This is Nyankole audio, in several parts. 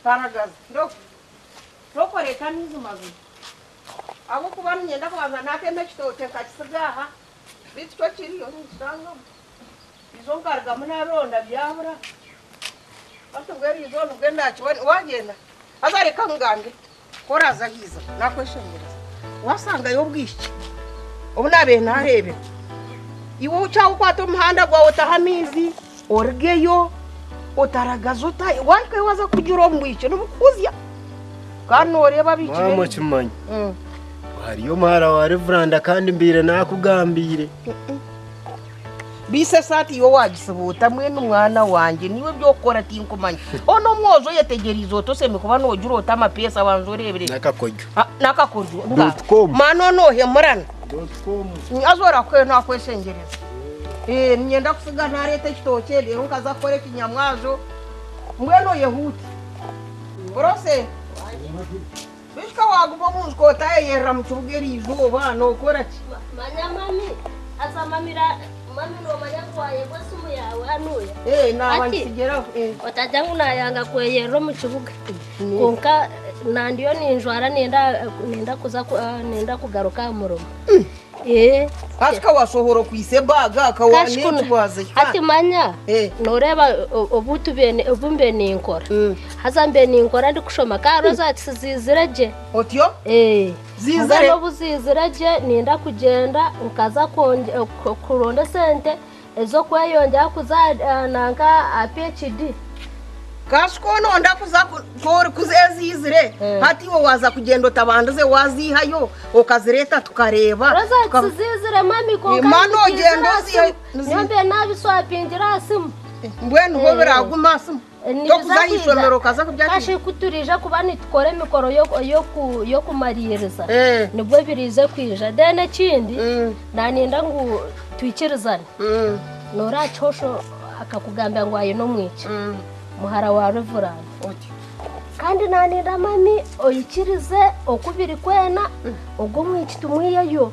Mparagaza, Ndo, tokoreeta amaizi mazima, ahabw'okuba niinyenda kubanza naatema ekitookye nkakitsiga aha, beitu kyo kiriyo ninkitangamu. Eizooba nkarugamu naaronda byabura, hati mbwenu eizooba nibwe ndaakiba, waagyenda haza reka nkugambire, Ku oraaza aha iziba naakweshengyereza, waasangayo obwishiki obu naabaire naareebera. Iwe okyaaha okwata omuhanda gwawe otaha amaizi, origeyo, otaragaza ota, waarugayo waaza kugira omu bwishiki nibukukuzya. Kandi nooreeba abaishiki Maama baingi. okimanya Mm. ngu hariyo omuhara wa Reveranda kandi mbaire naakugambiire. Baisa esaati yo waagisibuuta mbwenu mwana wangye niiwe eby'okukora tinkumanya. O n'omwojo oyetegyereize ota osembi kuba noogira ota amapeesa banza oreebire. N'akakoryo. Ah, N'akakoryo nga Dot com. maana o noohemurana. Haza orakwe naakweshengyereza. Eh, niinyenda kutsiga naareeta ekitookye reero nkaza kukora ekinyamwazo. Mbwenu oyehuute. Orose? Beitu ka waaguma omu nju ka otaayeyerera mu kibuga eri izooba, nookora ki? Manya mami aza mamira. Mami noomanya ngu waayebwa esimu yaawe hanuuya. Ee, naaba ngisigire aho. Ee. Otagira ngu naayanga kweyerera omu kibuga. Kwonka nandiyo ninjwara nenda kuza, nenda kugaruka aha murimo. Hati ka washohora okwitse ebaga ka Kashukuna. waneeti waza hati hikandi manya Eh. noreeba o- obu tube ni- obu mbe ninkora Mm. haza mbe ninkora ndikushoma ka hariho za kisi ziizire gye otyo Eh, Ziizire? mbwenu obu ziizire gye ninda kugyenda nkaza kwongy- ku- kuronda esente Ez'okweyongyera kuza nanka aha PHD. Kasi ku nooda kuza ku orikuzeeziizire, hati iwe waaza kugyenda otabandize waaziihayo okazireeta tukareeba? Roza nkiziizire mami kwonka Mani nizikiizira ogyendoziihayo aha simu. Nyowe mbiire naabiswapingira aha simu. Mbwenu bo biraaguma aha simu? Tokuza aha ishomero okaza kurya ki? Kashi ku turiija kuba nitukora emikoro y'okumariiriza, nibwo ebiriize kwija. Then ekindi naniinda ngu twikirizane. Noora aha kihosho akakugambira ngu aine omwishiki, muhara wa Reverand. Kandi naniinda mami oikirize oku birikwena, ogwo omwishiki tumwiheyo.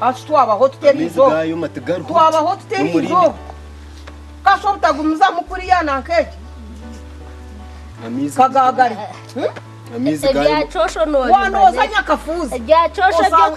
Hati twabaho tuta eriizooba? Amaizi gaayoma tigarugwa. Twabaho tuta eriizooba? Kasha obutagumizamu kuriya na nk'egi kagaagari. Wanooza nyakafuuzi.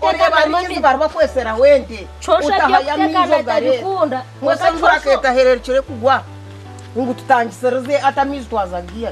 Oreeba amaizi bari bakweseraho ente. Otahayo amaizi ogare. Mweshe enjura k'etahererukire kugwa ngu tutangisirize ati amaizi twazagaiha?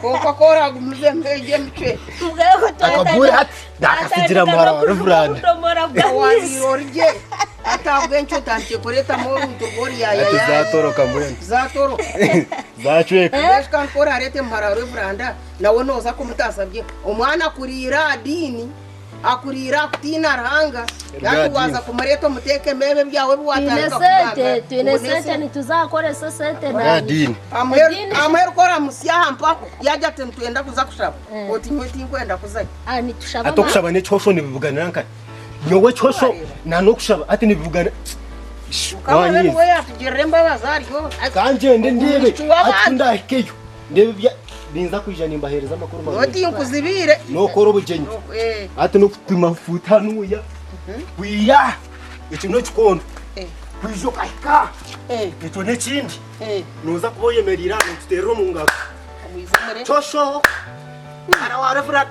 kwonka ku oragumuze mbwegye emicwe Akagure hati ndakasigira mara wa Reverand. owabiire ori gye ati ahabw'enki otandikire kureetamu oruntu rw'oruyayaya Hati zatoroka mbwenu. zatoroka Zacweka. mbwenu kandi ku orareete muhara wa Reverand nawe nooza kumutaasa gye omwana kuriira aha diini Akuriire aha kutiina Ruhanga, nari waaza kumureeta omuteekemu ebyo ebyawe ebi waatandika kugamba. Amwe ku oramutsya aha mpaho, yaagira ati, Nitwenda kuza kushaba. Oti, Nyowe tinkwenda kuzayo. Hati okushaba n'ekihosho nibibuganira nkahi? Nyowe ekihosho n'okushaba hati nibibugana? Mukama niwe yaatugirira embabazi aryozya. Kangyende ndeebe hati ku ndaahikeyo. N'ebi bya- ninza kwija nimbaheereza amakuru Nyowe marungi. tinkuzibiire. N'okora obugyenyi. Eh, Hati n'okupima fuuti hanuuya. Kwiha. Eki n'ekikondo. eh, Kwija okahika aha. eh, Ekyo n'ekindi. eh. Nooza kuba oyemereire aha nootuteerera omu ngaro. Omwiza omure. Shosho. Mara wa Reverend.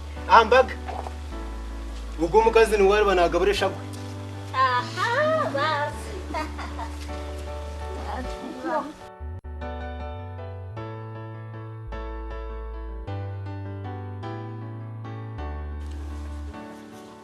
aha mbaga. Ogwo omukazi niwe ariba naagabura eshagwe.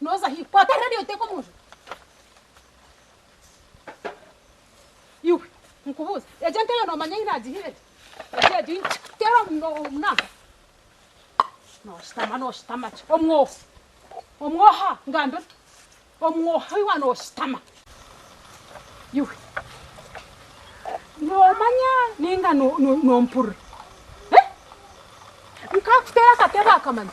Noza hi? Kwata radiyo oteeke omu nju. Iwe nkubuuze, egyo ente yo noomanya ei naagihire gye? Egyo egyo ei nkikuteera omu no- omu naaha. Nooshutama nooshutama ki? Omwoho, omwoho aha ngamba ota? Omwoho aha iwa nooshutama. Iwe noomanya nainga no- no- noompurira? He? Nkakuteera akatebe aka manya.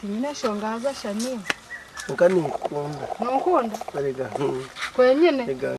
Tinyine nshonga haza shami. Kwonka ninkukunda. Nonkunda? Erega him. Kwenyine? Ega.